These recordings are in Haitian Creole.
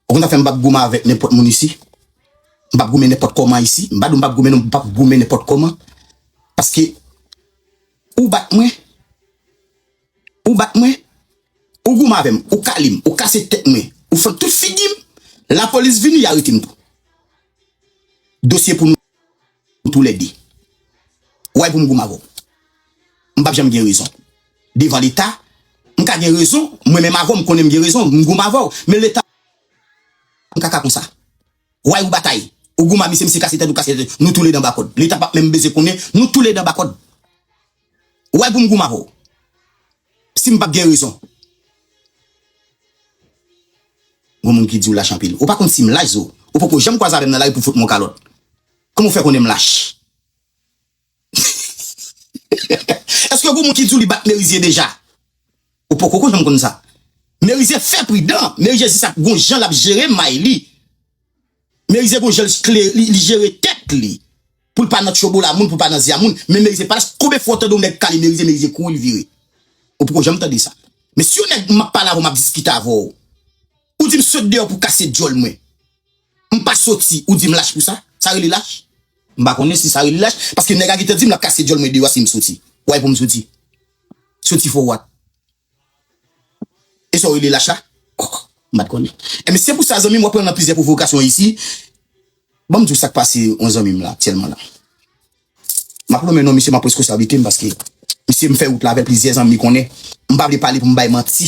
Ou konn zafem mpap goumen avek nenpot moun isi mpap goumen nenpot koman isi mpa diw mpap goumen non mpap goumen nenpot koman paske ou bat mwen ou bat mwen ou goumen avem ou kalem ou kase tet mwen ou fè tout figim lapolis vini ya retem tou dosye pou nou. Nou tou lè 2. Ou wè pou m gou m avè w. M pap janm gen rezon. Devan leta, m ka gen rezon. Mwen menm avè w m konnen m gen rezon. M gou m avè w. Men leta m kaka konsa. Ou wè ou batay. Ou gou m a misye, misye kase tèt ou kase tèt. Nou tou lè 2 anba kòd. Leta pap menm bezwen konnen. Nou tou lè 2 anba kòd. Ou bay poum goumen avè w sim pap gen rezon. Gon moun ki diw lach anpil. Ou pa konn sim lach zo. Ou poko janm kwaze avèm nan lari pou fout mwen yon kalòt. Kòman ou fè konnenm lach? Eske gon moun ki diw li bat Merizier deja? Ou poko ko janm konn sa. Merizier fè pridan. Merizier gon jan lap jere may li. Merize gon jan li jere tèt li poul pa nan tchobola moun poul pa nan zia moun men merize pa las konbyen fwa ou tande yon nèg kale merize merize kouri li vire ou poko janm tande sa men si yon nèg map pale avèw map diskite avèw ou dim sot deyò pou kase dyòl mwen mpa soti ou dim lach pou sa sa rele lach mpa konnen si sa rele lach paske nèg a gentan dim lap kase dyòl mwen deyò a sim soti why poum soti soti for what. E sa w rele lach la? Oh, m pa t konnen. Enben, se pou sa, zanmi m, w ap pran nan plizyè pwovokasyon isi. Ban m di w sa k pase yon zanmi m la aktyèlman la. M ap lonmen non misye, m ap pran reskonsablite m paske misye m fè wout la avè l plizyè zanmi konnen. M pa vle pale pou m bay manti.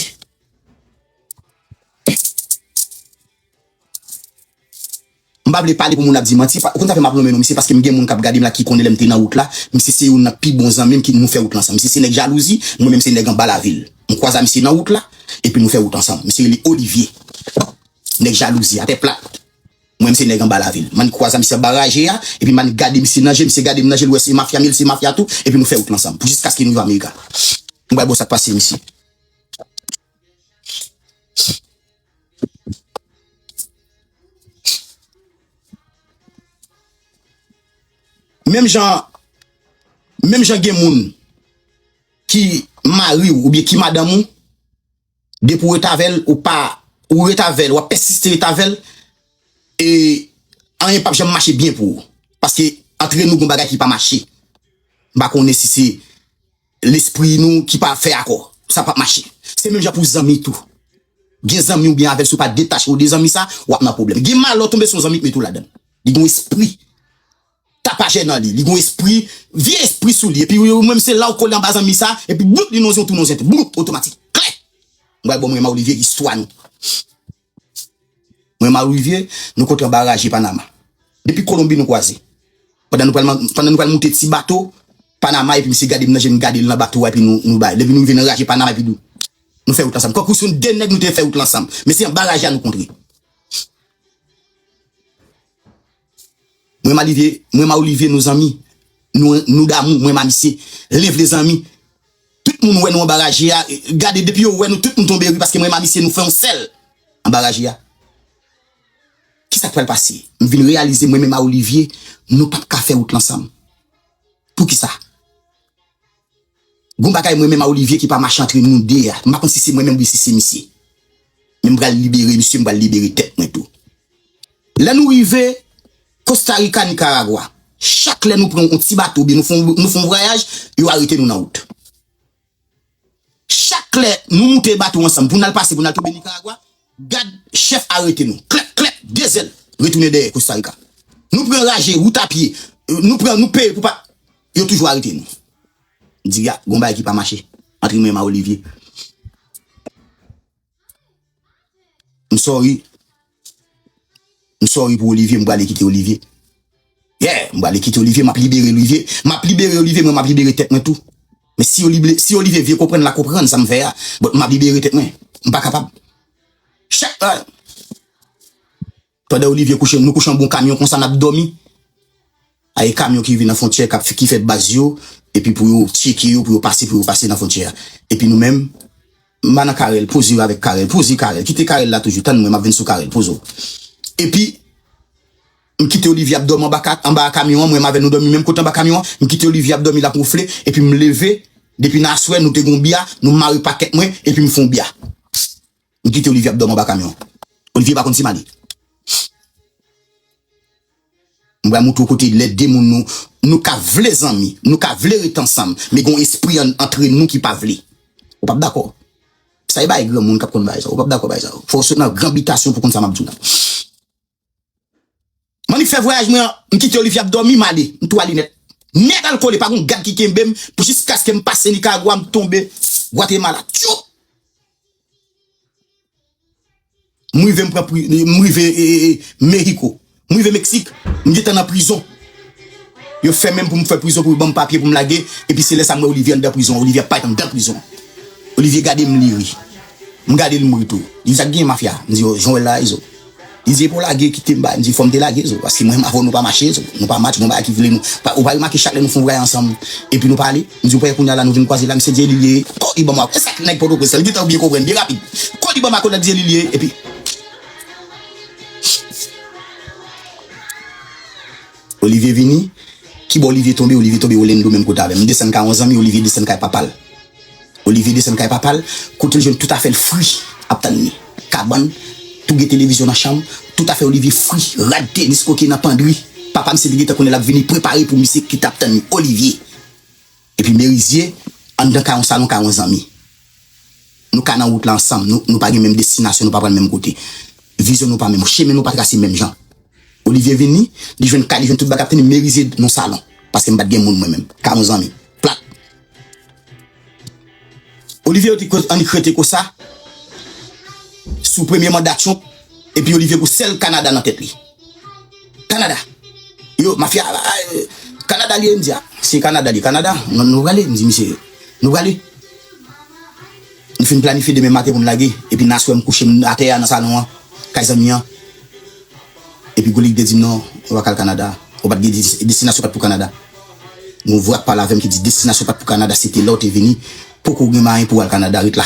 M pa vle pale pou moun ap di manti, ou konn sa fè m ap lonmen non misye paske m gen moun k ap gade m la ki konnen lè m te nan wout la, misye se youn nan pi bon zanmi m ki nou fè wout la ansanm. Misye se nèg jalouzi, mwen menm se nèg anba lavil. M kwaze a misye nan wout la, epi nou fè wout ansanm. Misye rele Olivye. Nèg jalouzi, atè plat. Mwen menm se nèg anba lavil. M annik kwaze a misye anba raje a, epi m annik gade misye nan je, misye gade m nan je l wè se mafya m ye, li se mafya tou, epi nou fè wout la ansanm pou jiskaske nou rive Amerika. M bay bo sa k pase misye. Menm jan gen moun ki mari ou oubyen ki madanm ou, depi ou ret avè l, ou pa, ou ret avè l, ou ap pèsiste ret avè l, e anyen pap janm mache byen pou ou. Paske antre nou gen yon bagay ki pa mache. M pa konnen si se. Lespri nou ki pa fè akò, sa pap mache. Se menm jan pou zanmi tou. Gen zanmi ou byen avèl si ou pa detache ou de zanmi sa, wap nan pwoblèm. Gen malè ou tonbe sou yon zanmi k mete ou ladann. Li gen yon espri tapajè nan li, li gen yon espri, vye espri sou li epi ou menm se la ou kole anba zanmi sa epi bloup li nan yon tou nan yon zente. Bloup! Otomatik. Klè! M pral ba w mwen Maulivie istwa nou. Mwen Malouivie, nou kontran baraje Panama. Depi Kolonbi nou kwaze. Pandan nou pral moute ti bato Panama epi misye gade m nan je m gade l nan bato a epi nou bay. Epi nou rive nan raje Panama epi nou fè wout la ansanm. Tankou si nou de nèg nou te fè wout la ansanm. Men se an baraje a nou kontre. Mwen malivye mwen ma olivye nou zanmi nou nou damou mwen ma misye len vle zanmi tout moun wè nou anba raje a gade depi yo wè nou tout moun tonbe ri paske mwen ma misye nou fè yon sèl anba raje a kisak pral pase m vin reyalize mwen menm a olivye nou pap ka fè wout l ansanm poukisa. Gon bagay mwen menm a Olivier ki pa mache antre nou 2 a. M pa konn si se mwen menm oubyen si se misye. Men m pral libere misye, m pral libere tèt mwen tou. Lè nou rive Costa Rica, Nicaragua, chak lè nou pran yon ti bato oubyen nou fè yon vwayaj, yo arete nou nan wout. Chak lè nou moute bato ansanm pou n al pase pou n al tonbe Nicaragua, Gad chèf arete nou klèk klèk de zèl retounen dèyè kostarika nou pran raje wout a pye nou pran nou peye pou pa yo toujou arete nou di a gon bagay ki pa mache antre mwen ma olivye m sorry m sorry pou olivye m prale kite olivye. Yeah m bale kite olivier map libere olivier map libere olivier mwen map libere tèt mwen tou men si olible si olivier vye konprann la konprann sam fè a but map libere tèt mwen m pa kapab chak ta pandan olivier kouche nou kouche anba yon kamyon konsa nap dòmi a e kamyon ki rive nan fontyè kap ki fè baz yo epi pou yo tyeke yo pou yo pase pou yo pase nan fontyè a epi nou menm m ba nan carel poze yo avèk carel poze carel kite carel la toujou tann mwen map vin sou carel poze w epi. M kite Olivia ap dòmi anba anba a kamyon an, mwen menm avè l nou dòmi menm kote anba kamyon an, m kite Olivia ap dòmi l ap wonfle epi m leve depi nan aswè nou te gen yon bya nou m mare pakèt mwen epi m fè yon bya m kite Olivia ap dòmi anba kamyon an Olivia pa konn si m ale m pral montre w kote lè 2 moun nou nou ka vle zanmi nou ka vle ret ansanm men gen yon espri an antre nou ki pa vle ou pap dakò sa e bagay granmoun k ap konn bagay sa yo ou pap dakò bagay sa yo fò w sot nan gran bitasyon pou w konn sa m ap di w. Manmi fè vwayaj mwen an, m kite Olivia ap dòmi, m ale, m tou ale nèt. Nèt al kole, pa gon gad ki kenbe m pou jiskaske m pase Nicaragua m tonbe Guatemala. Tchoup! M rive m pran pri, m rive Mexico. M rive Meksik, m gentan nan prizon. Yo fèmen m pou m fè prizon pou yo ban m papye pou m lage, epi se lè sa m wè Olivia anndan prizon an. Olivia pa t anndan prizon an. Olivia gade m li ri. M gade l m ri tou. Li di sa k genyen mafya? M di yo, jan w wè l la a Izo. Li di epaw lage kite m bandi fòm te lage zo paske mwen m avèw nou pa mache zo nou pa match gon bagay ki vle nou pa ou pa remake chak lè nou fon vwayaj ansanm epi nou pale m diw pè kounya la nou vin kwaze la m se dyelil ye kò li banm wap wè sak nèg pòtoprens lan li gentan byen konprann byen rapid kò li banm a kolèt dyelil ye epi. Olivier vini? Ki bò Olivier tonbe? Olivier tonbe Olendo menm kote avè m. M desann kay yon zanmi, Olivier desann kay papa l. Olivier desann kay papa l, kote l jwenn tout afè l fri ap tann li. Kabann, tou gen televizyon nan chanm, tout afè Olivier fri, rad tenis kote nan pandri. Papa misye te gentan konnen l ap vini, prepare pou misye ki t ap tann li. Olivier! Epi Merizye, anndan ka yon salon ka yon zanmi. Nou ka nan wout la ansanm, nou pa gen menm destinasyon, nou pa pral menm kote. Vizyon nou pa menm, chemen nou pa trase menm jan. Olivye vini, li jwenn kay, li jwenn tout bagay, ap tann Merizye nan salon. Paske m pa t gen moun mwen menm. Ka yon zanmi. Plat! Olivye yo te koz annik rete konsa, sou premye manda Trump, epi Olivye gwo sèl Kanada nan tèt li. Canada yo mafia Canada liye mdi a si Canada liye Canada nou prale mdi misye nou prale nou fin planifiye demen maten poun lage epi nan aswè mkouche atè a nan salon an kay zanmi an epi Golic te dim non ou pa kal Canada ou pat gen destinasyon pat pou Canada gon vwa k pale avèm ki di destinasyon pat pou Canada se te lèw te vini poko gen mayen pouw al Canada ret la.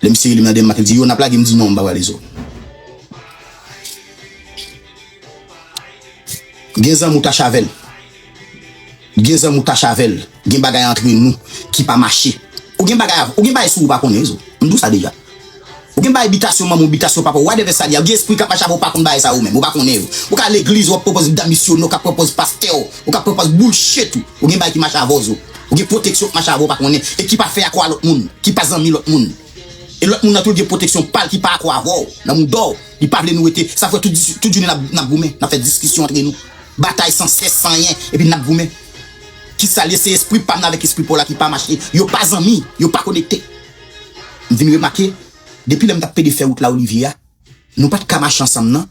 Lè misye rele m nan Denmak, li di, Yo, n ap lage? M di, Non, m pa prale zo. Gen zanmi ou tache avè l. Gen zanmi ou tache avè l. Gen bagay antre nou ki pa mache. Ou gen bagay avè, ou gen bagay sou ou pa konnen, zo. M di w sa deja. Ou gen bagay bitasyon manman w, bitasyon papa w, whatever sa li a. Ou gen espri k ap mache avè w, ou pa konn bagay sa yo menm. Ou pa konnen yo. Ou ka legliz, w ap pwopòz dam misyone, ou ka pwopòz pastè w, ou ka pwopòz bullshit ou. Ou gen bagay ki mache avè w, zo. Ou gen pwoteksyon k mache avè w pa konnen e ki pa fè akò a lòt moun, ki pa zanmi lòt moun. E lòt moun nan tou l gen pwoteksyon pa l ki pa akò avè w nan mouda w. Li pa vle nou rete. Sa fè tout jounen n ap goumen, n ap fè diskisyon antre nou. Batay san sès, san anyen, epi n ap goumen. Ki sa l ye? Se espri pa m nan avèk espri pa w la ki pa mache. Yo pa zanmi, yo pa konekte. M vin remake, depi lè m t ap pede fè wout Laolivye a, Nou pat ka mache ansanm nan.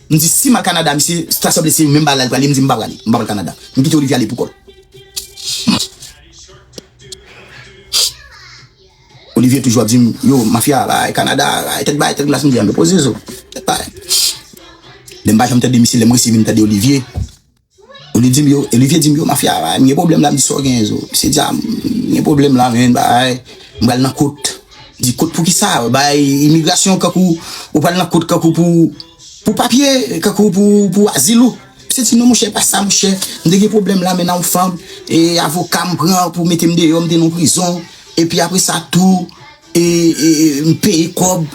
M di si m al Canada misye ta sanble se menm bagay la li pral di, m di m pa prale, m pa pral Canada. M kite Olivia ale poukòl. Olivia toujou ap di m, yo mafya a bay, Canada a bay, tèt bay, tèt glas, m di a men poze zo, tèt bay. Lè m pa janm tande misye, lè m resi vin tande Olivia. Li dim yo, Olivier dim yo mafya a, m gen pwoblèm la, m di sa w genyen zo, misye di a m gen pwoblèm la men bagay, m pral nan kot, m di kot poukisa, bay imigrasyon kankou ou pral nan kot kankou pou pou papye, kankou pou azil ou, misye di non monchè e pa sa monchè, m te gen pwoblèm la men nan yon fanm, e avoka m pran pou mete m deyò, m te nan yon prizon, epi apre sa tou, M peye kòb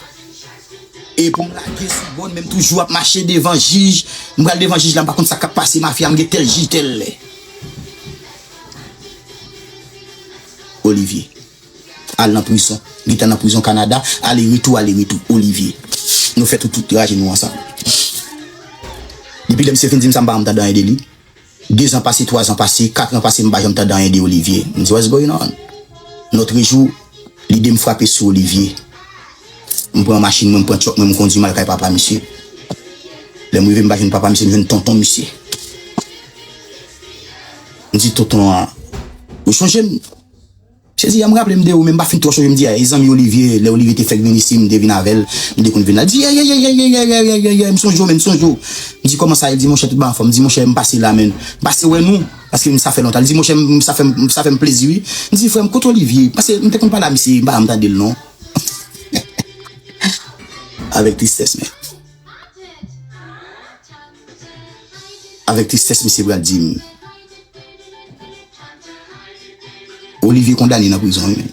e pou m lage sou bòn men m toujou ap mache devan jij. M pral devan jij la m pa konn sa k ap pase mafya a m gen tèl jij tèl lè. Olivier. Al nan prizon. Gentan nan prizon Kanada. Ale retou ale retou. Olivier. Nou fè tout raje nou ansanm. Depi lè misye fin di m sa m pa janm tande anyen de li. 2 zan pase 3 zan pase 4 lan pase m pa janm tande anyen de Olivie m di what's going on nòtrejou lide m frape sou Olivie m pran machin mwen m pran truck mwen m kondwi m al kay papa misye lè m rive m pa jwenn papa misye m jwenn tonton misye m di tonton an ou sonje m. Sezi ya m raplem de ou men m pa fin twò sonje m di ayy zanmi Olivie lè Olivie te fèk vin isi m te vin avèl nou te konn vin la l di yeyeyeyeyeyeyeyeyeyeyeyey m sonje w men m sonje w m di kòman sa ye l di monchè tout bagay anfòm m di monchè m pase la men m pase wè nou paske m sa fè lontan l di monchè m sa fè m sa fè m plezi wi m di frè m kot Olivie paske m te konn pale a misye m pa janm tande l non hehehehe avèk tristès men. Avèk tristès misye pral di m. Olivier kondane nan prizon wi menn.